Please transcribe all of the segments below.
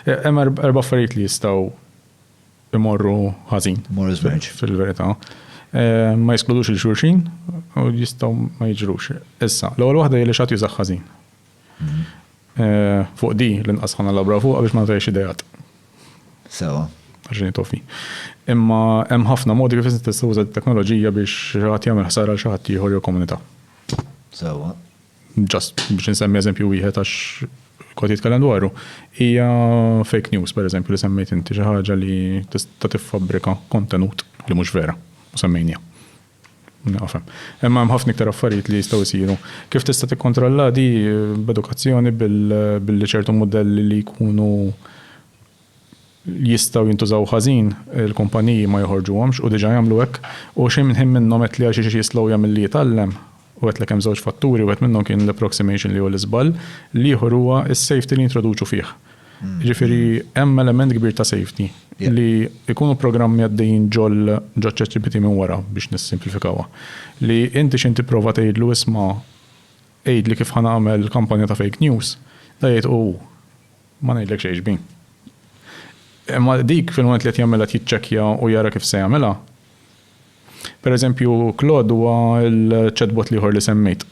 Hemm erba' affarijiet li jistgħu imorru ħażin. Imorru żmerġ. Fil-verità. Eh, ma jiskludux il-xurxin u jistgħu ma jiġrux. Issa, l-ewwel waħda hi li xatt jużax ħażin. Mhm. Eh, fuq di l-inqas ħana labra fuq biex ma ntajx idejat. Sewa. Għaxin tofi. Imma hemm ħafna modi kif tista' tuża t-teknoloġija biex ħadd jagħmel ħsara għal xi ħadd ieħor jew komunità. Sewa. Ġast biex insemmi eżempju wieħed għax kont jitkellem dwaru, hija fake news pereżempju li semmejt inti xi ħaġa li tista' tiffabbrika kontenut li mhux vera u semmejnija. Nafhem. Imma hemm ħafna iktar affarijiet li jistgħu jsiru. Kif tista' tikkontrolla di b'edukazzjoni billi ċertu mudelli li jkunu jistgħu jintużaw ħażin, il-kumpaniji ma joħorġuhomx u diġà jagħmlu hekk. U xejn minn ħin minnhom qed li għal xi xi xi slowja milli jitgħallem. U għedtlek hemm żewġ fatturi, wieħed minnhom kien l-approximation li hu l-iżball, l-ieħor huwa s-safety li jintroduċu fih. Jiġifieri hemm element kbir ta' safety li jkunu programmi għaddejjin ġol ġoċ-ChatGPT minn wara biex nissimplifikawha. Li inti xejn tipprova tgħidlu isma' għidli kif ħa nagħmel kampanja ta' fake news, da jgħid u hu. Ma ngħidlek xejn xbin. Imma dik fil-mument li qed jagħmilha qed jiċċekkja u jara kif se jagħmilha. Pereżempju Claude huwa l-chatbot l-ieħor li semmejt.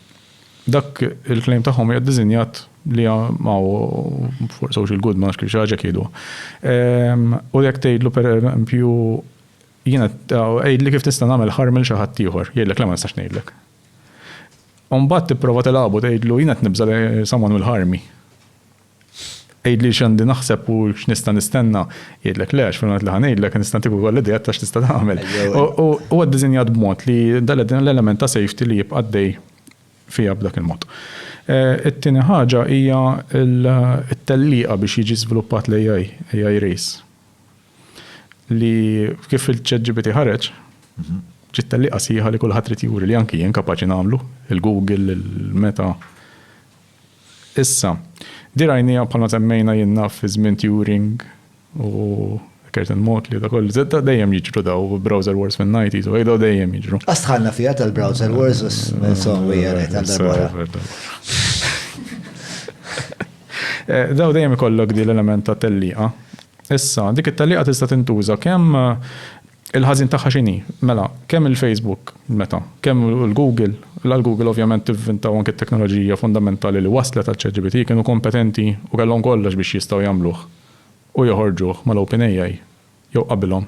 Dak il-claim tagħhom hija ddiżinjat li ma hu for social good ma nafx kif xi ħaġa jgħiduha. Ehm, u jekk tgħidlu pereżempju jiena għidli kif tista' nagħmel ħarm il xi ħadd ieħor, jgħidlek le ma nistax ngħidlek. Umbagħad tipprova tilgħabu tgħidlu jiena qed nibża' li someone will harm me. Għidli x'għandi naħseb u x'nista' nistenna. Jgħidlek le, għax fil-mument li ħa ngħidlek nista' ntik ukoll ideat ta' x'tista' tagħmel. U huwa ddisinjat b'mod li dan l-element ta' safety li jibqa' għaddej fiha b'dak il-mod. It-tieni ħaġa hija t-tellieqa biex jiġi żviluppat l-AI, AI race. Li kif il-ChatGPT ħareġ, ġiet tellieqa sħiħa li kulħadd irid juri li anki jien kapaċi nagħmlu, il-Google, il-Meta. Issa, di rajniha bħalma semmejna jiena fi żmien Turing u Curtin Motley u dak kollu. Zedda dejjem jiġru daw browser wars fin-90s u daw dejjem jiġru. Għax dħalna fiha tal-browser wars u s-software qed għal darb'oħra. Daw dejjem ikollok di l-element ta' tellieqa. Issa, dik it-tellieqa tista' tintuża kemm Il-ħażin tagħha x'inhi? Mela, kemm il-Facebook, meta, kemm il-Google, la l-Google ovvjament tivvinta u anke t-teknoloġija fundamentali li wasslet għal ChatGPT kienu kompetenti u kellhom kollox biex jistgħu jagħmluh u joħorġuh mal-OpenAI jew qabilhom.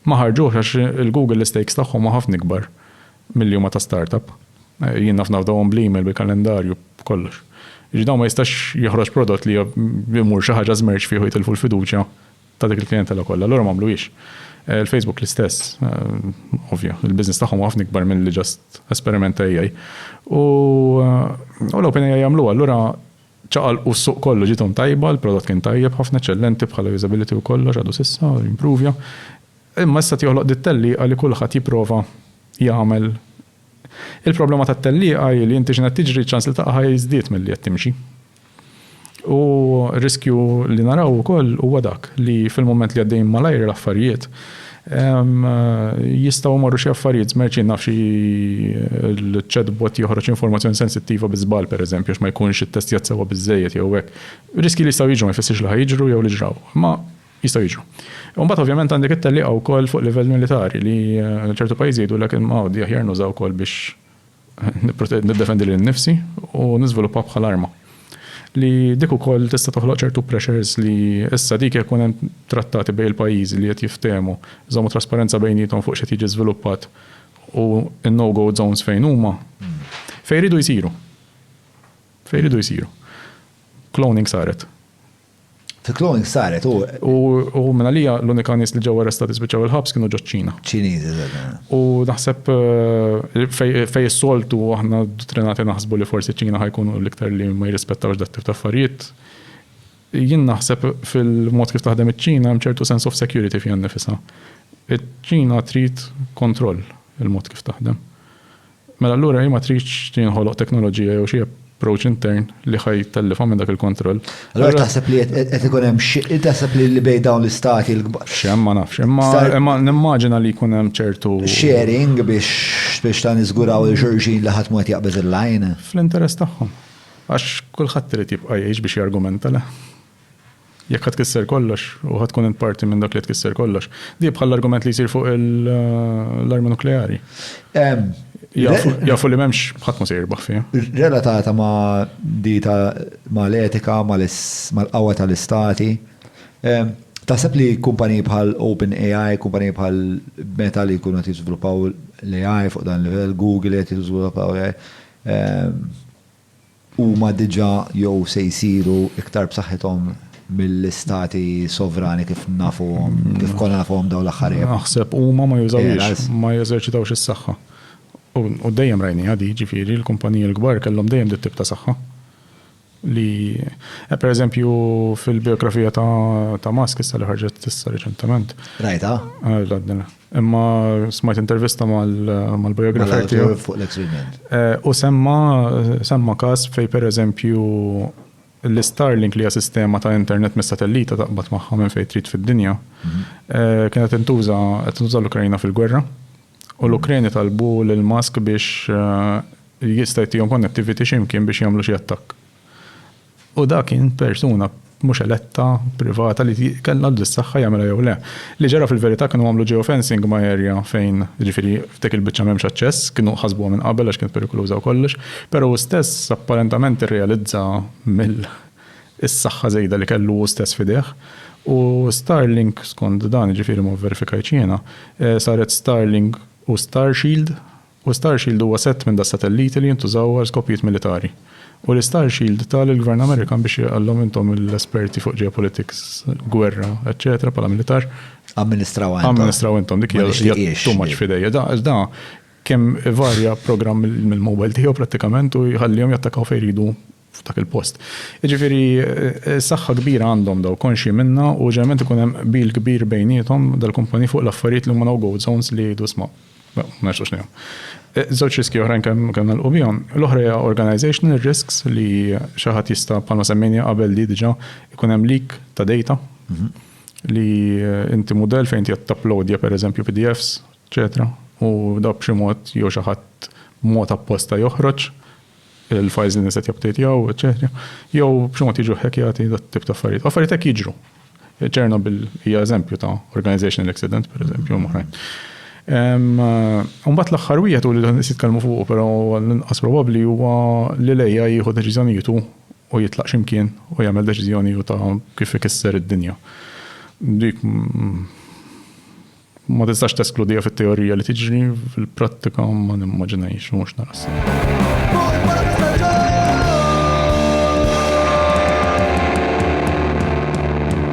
Ma ħarġuhx għax il-Google l-istakes tagħhom huma ħafna ikbar milli huma ta' startup. Jien naf nafdawhom bl-email, bil-kalendarju, b'kollox. Jiġifieri dawn ma jistax joħroġ prodott li imur xi ħaġa żmerċ fih u jitilfu l-fiduċja ta' dik il-klijentela kollha, allura m'għamluhiex. Il-Facebook l-istess, ovvja, il-business tagħhom huwa ħafna ikbar milli just esperiment ta' AI. U l-OpenAI għamluha, allura ċaqalqu s-suq kollu, ġiethom tajba, il-prodott kien tajjeb ħafna, eċċellenti bħala usability u kollox għadu s'issa, impruvja. Imma issa qed joħloq din it-tellieqa li kulħadd jipprova jagħmel. Il-problema tat-tellieqa hi li inti x'inhi qed tiġri, ċ-ċans li taqaha jiżdied milli qed timxi. U riskju li naraw ukoll huwa dak li fil-mument li għaddejjin malajr l-affarijiet, jistgħu jmorru xi affarijiet żmerċ, jien naf xi l-chatbot joħroġ informazzjoni sensittiva bi żball pereżempju għax ma jkunx ittestjat sewwa biżżejjed jew hekk. Riskji li jistgħu jiġru ma jfissirx li ħa jiġru jew li ġraw, imma jistgħu jiġru. U mbagħad ovvjament għandek it-tellieqa wkoll fuq livell militari li ċertu pajjiżi jgħidulek imma għodi aħjar nużawk ukoll biex niddefendi lil nnifsi u niżviluppa bħal arma. Li dik ukoll tista' toħloq ċertu pressures li issa dik jekk ikun hemm trattati bejn il-pajjiżi li qed jiftehmu, iżommu trasparenza bejniethom fuq x'qed jiġi żviluppat u n-no go zones fejn huma, fejn iridu jsiru. Fejn iridu jsiru. Cloning saret. Fi cloning saret u. U minn għalija l-unika nies li ġew arrestati spiċċaw il-ħabs kienu ġo ċina. Ċiniżi, eżatt. U naħseb fejn is-soltu aħna dottrinati naħsbu li forsi ċina ħajkunu l-iktar li ma jirrispettawx dat-tip ta' affarijiet. Jien naħseb fil-mod kif taħdem iċ-Ċina hemm ċertu sense of security fiha nnifisha. Iċ-Ċina trid kontroll il-mod kif taħdem. Mela allura hi ma tridx tinħoloq teknoloġija jew xi approach intern li ħa jtellifha minn dak il-kontroll. Allura taħseb li qed ikun hemm xi taħseb li li bejn dawn l-istati l-kbar. X'hemm ma nafx. Imma imma nimmaġina li jkun hemm ċertu. Sharing biex biex ta' niżguraw lil xulxin li ħadd mhu qed jaqbeż il-line. Fl-interess tagħhom. Għax kulħadd irid jibqa' jgħix biex jargumenta le. Jekk ħa tkisser kollox, u ħa tkun int parti minn dak li tkisser kollox. Di bħal l-argument li jsir fuq l-armi nukleari. Jafu li m'hemmx ħadd ma se jirbaħ fiha. Relatata ma' di ta' ma' l-etika, ma' l-qawwa tal-istati. Taħseb li kumpaniji bħal OpenAI, kumpaniji bħal Meta li jkunu qed jiżviluppaw l-AI fuq dan il-livell, Google li qed jiżviluppaw l-AI, huma diġà jew se jsiru iktar b'saħħithom mill-istati sovrani kif nafuhom, kif konna nafuhom dawn l-aħħar ijiem. Naħseb huma ma jużawhiex, ma jeżerċitawx is-saħħa. U dejjem rajniha di, jiġifieri l-kumpaniji l-kbar kellhom dejjem dit-tip ta' saħħa li, pereżempju, fil-bijografija ta' Musk issa li ħarġet issa riċentement. Rajtha? Imma smajt intervista mal-biografer tiegħu. Fuq l-ex eh, U semma semma każ fej pereżempju l-Starlink li hija sistema ta' internet mis-satellita taqbad magħha minn fejn trid fid-dinja. Mhm. Eh, kienet intuża qed tuża l-Ukrajna fil-gwerra. U l-Ukrajni talbu lil Musk biex eh, jista' jtihom connectivity x'imkien biex jagħmlu xi attakk. U dak kien persuna mhux eletta, privata li kellha biss saħħa jagħmilha jew le. Li ġara fil-verità kienu għamlu geofencing ma' area fejn, jiġifieri f'dik il-biċċa m'hemmx aċċess, kienu ħasbuha minn qabel għax kienet perikoluża u kollox, però hu stess apparentament irrealizza mill is-saħħa żejda li kellu hu stess f'idejh. U Starlink skond dan, jiġifieri ma vverifikajtx jiena, saret Starlink u Starshield. U Starshield huwa sett minn das-satelliti li jintużaw għal skopijiet militari. U li Starshield ta lill-Gvern Amerikan biex jgħallhom intom l-esperti fuq geopolitics, gwerra, eċċetera, bħala militar. Amministrawha intom. Amministrawha intom, dik hija hija too much f'idejja. Da da kemm ivarja programm mill-mobile tiegħu prattikament u jħallihom jattakaw fejn jridu f'dak il-post. Jiġifieri saħħa kbira għandhom dawn, konxji minnha u ġeneralment ikun hemm qbil kbir bejniethom dal-kumpaniji fuq l-affarijiet li huma no-go zones li jgħidu isma' ma nistgħux ngħinuhom. Żewġ riskji oħrajn kemm nagħlqu bihom. L-oħra hija organizational risks li xi ħadd jista' bħalma semmejniha qabel di diġà ikun hemm leak ta' data li inti mudell fejn inti qed tapplowdja pereżempju PDFs eċċetera U daw b'xi mod jew xi ħadd b'mod apposta joħroġ il-files li nies qed japdejtjaw, eċċetera Jew b'xi mod jiġu ħekjati dat-tip ta' affarijiet. Affarijiet hekk jiġru. Chernobyl hija eżempju ta' organizational accident, pereżempju, u oħrajn. Mbagħad l-aħħar wieħed u li nies jitkellmu fuq, però l-inqas probabbli huwa li l-AI jieħu deċiżjonijiet hu u jitlaq x'imkien u jagħmel deċiżjoni hu ta' kif ikisser id-dinja. Dik Ma tistax teskludiha fit-teorija li tiġri, fil-prattika ma nimmaġinajx u mhux narassem.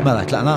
Mela, tlaqna?